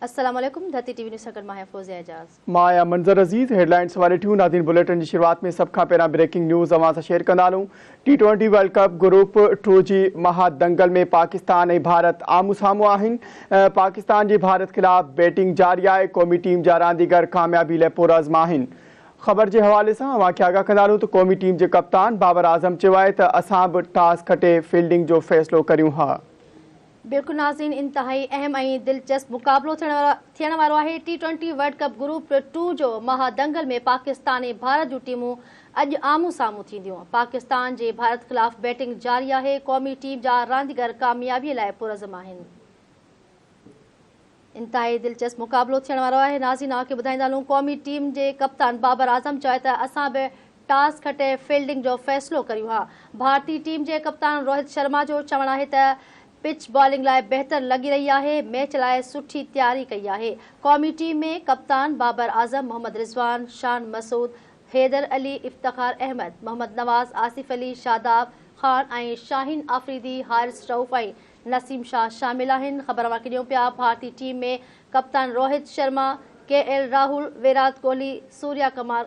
السلام عليڪم Dharti T V news سان گڏ مان آهيان فوزيه اعجاز. مان آهيان منظر عزيز هيڊلائينز واري ٽيون ناظرين بليٽن جي شروعات ۾ سڀ کان پهريان بريڪنگ نيوز اوهان سان شيئر ڪندا هلون T twenty world cup group two جي مها دنگل ۾ پاڪستان ۽ ڀارت آمهون سامهون آهن پاڪستان جي ڀارت خلاف بيٽنگ جاري آهي قومي ٽيم جا رانديگر ڪاميابي لاء پرعزم آهن خبر جي حوالي سان اوهان کي آگاهه ڪندا هلون ته قومي ٽيم جي ڪپتان بابر اعظم چيو آهي ته اسان به ٽاس کٽي فيلڊنگ جو فيصلو ڪريون ها بلڪل ناظرين انتهائي اهم ۽ دلچسپ مقابلو ٿيڻ وارو آهي T twenty world cup group two جو مها دنگل ۾ پاڪستان ۽ ڀارت جون ٽيمون اڄ آمهون سامهون ٿينديون پاڪستان جي ڀارت خلاف بيٽنگ جاري آهي قومي ٽيم جا رانديگر ڪاميابي لاء پرعزم آهن. انتهائي دلچسپ مقابلو ٿيڻ وارو آهي ناظرين اوهان کي ٻڌائيندا هلون قومي ٽيم جي ڪپتان بابر اعظم چيو آهي ته اسان به ٽاس کٽي فيلڊنگ جو فيصلو ڪريون ها ڀارتي ٽيم جي ڪپتان روهت شرما جو چوڻ آهي ته پچ بالنگ لاء بهتر لڳي رهي آهي ميچ لاء سٺي تياري ڪئي آهي قومي ٽيم ۾ ڪپتان بابر اعظم محمد رضوان شان مسعود حيدر علي افتخار احمد محمد نواز آصف علي شاداب خان ۽ شاهين آفريدي حارث رئوف ۽ نسيم شاهه شامل آهن. خبر اوهان کي ڏيون پيا ڀارتي ٽيم ۾ ڪپتان روهت شرما، ڪي ايل راهول، ويرات ڪوهلي، سوريا ڪمار،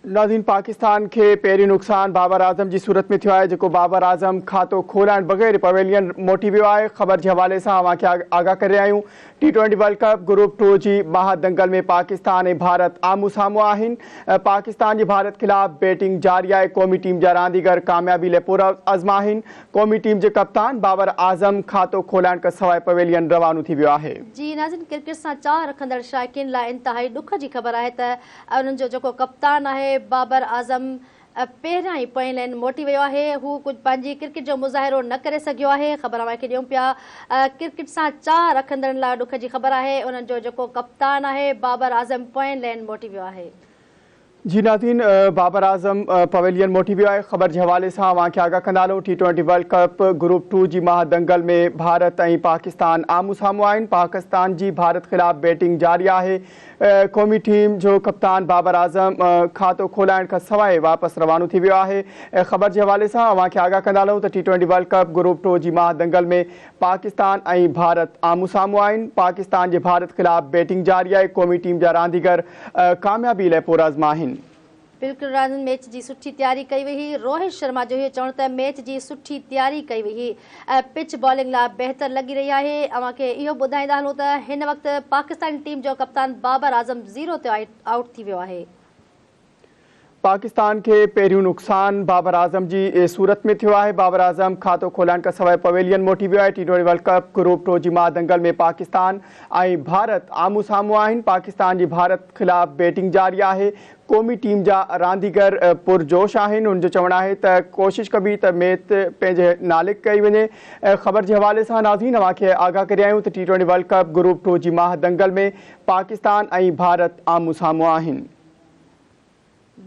ناظرين پاڪستان کي پهريون نقصان بابر اعظم جي صورت ۾ ٿيو آهي جيڪو بابر اعظم کاتو کولائڻ بغير پويلين موٽي ويو آهي خبر جي حوالي سان اوهان کي آگاهه ڪري رهيا آهيون T twenty world cup group two جي ٻانهن دنگل ۾ پاڪستان ۽ ڀارت آمهون سامهون آهن، پاڪستان جي ڀارت خلاف بيٽنگ جاري آهي، قومي ٽيم جا رانديگر ڪاميابي لئه پرعزم آهن، قومي ٽيم جي ڪپتان بابر اعظم کاتو کولائڻ کان سواء پويلين روانو ٿي ويو آهي. جي ناظرين ڪرڪيٽ سان چاهه رکندڙ شائقين لاء انتهائي ڏک جي خبر آهي ته انهن جو جيڪو ڪپتان آهي بابر اعظم پهريان ئي پوئين لين موٽي ويو آهي، هو ڪجهه پنهنجي ڪرڪيٽ جو مظاهرو نه ڪري سگهيو آهي، خبر اوهان کي ڏيون پيا، ڪرڪيٽ سان چاهه رکندڙن لاء ڏک جي خبر آهي، انهن جو جيڪو ڪپتان آهي بابر اعظم پوئين لين موٽي ويو آهي. جي ناظرين بابر اعظم پويلين موٽي ويو آهي، خبر جي حوالي سان اوهان کي آگاهه ڪندا هلون، T twenty world cup group two جي مها دنگل ۾ ڀارت ۽ پاڪستان آمهون سامهون آهن، پاڪستان جي ڀارت خلاف بيٽنگ جاري آهي، قومي ٽيم جو ڪپتان بابر اعظم کاتو کولائڻ کان سواء واپس روانو ٿي ويو آهي. خبر جي حوالي سان اوهان کي آگاهه ڪندا هلون ته T twenty world cup group two جي ماهه دنگل ۾ پاڪستان ۽ ڀارت آمهون سامهون آهن. پاڪستان جي ڀارت خلاف بيٽنگ جاري آهي. قومي ٽيم جا رانديگر ڪاميابي لئه پرعزم آهن. بلڪل راند ميچ جي سٺي تياري ڪئي وئي هئي روهت شرما جو اهو چوڻ ته ميچ جي سٺي تياري ڪئي وئي هئي ۽ پچ بالنگ لا بهتر لڳي رهي آهي اوهان کي اهو ٻڌائيندا هلون ته هن وقت پاڪستان ٽيم جو ڪپتان بابر اعظم زيرو تي آئوٽ ٿي ويو آهي. پاڪستان کي پهريون نقصان بابر اعظم جي صورت ۾ ٿيو آهي بابر اعظم کاتو کولائڻ کان سواء پويلين موٽي ويو آهي T twenty world cup group two جي مها دنگل ۾ پاڪستان ۽ ڀارت آمهون سامهون آهن پاڪستان جي ڀارت خلاف بيٽنگ جاري آهي قومي ٽيم جا رانديگر پرجوش آهن، هن جو چوڻ آهي ته ڪوشش ڪبي ته ميت پنهنجي ناليڪ ڪئي وڃي. خبر جي حوالي سان ناظرين اوهان کي آگاهه ڪريايون ته T twenty world cup group two جي ماهه دنگل ۾ پاڪستان ۽ ڀارت آمهون سامهون آهن.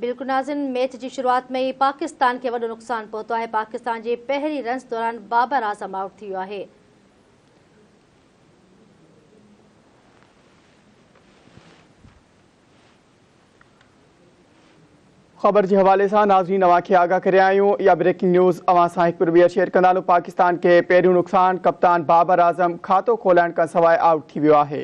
بلڪل ناظرين ميچ جي شروعات ۾ ئي پاڪستان کي وڏو نقصان پهتو آهي، پاڪستان جي پهرين رنس دوران بابر اعظم آئوٽ ٿي ويو آهي. خبر جي حوالي سان ناظرين اوهان کي آگاهه ڪريا آهيون اها بريڪنگ نيوز اوهان سان هڪ ٻيهر شيئر ڪندا لون پاڪستان کي پهريون نقصان ڪپتان بابر اعظم کاتو کولائڻ کان سواء آئوٽ ٿي ويو آهي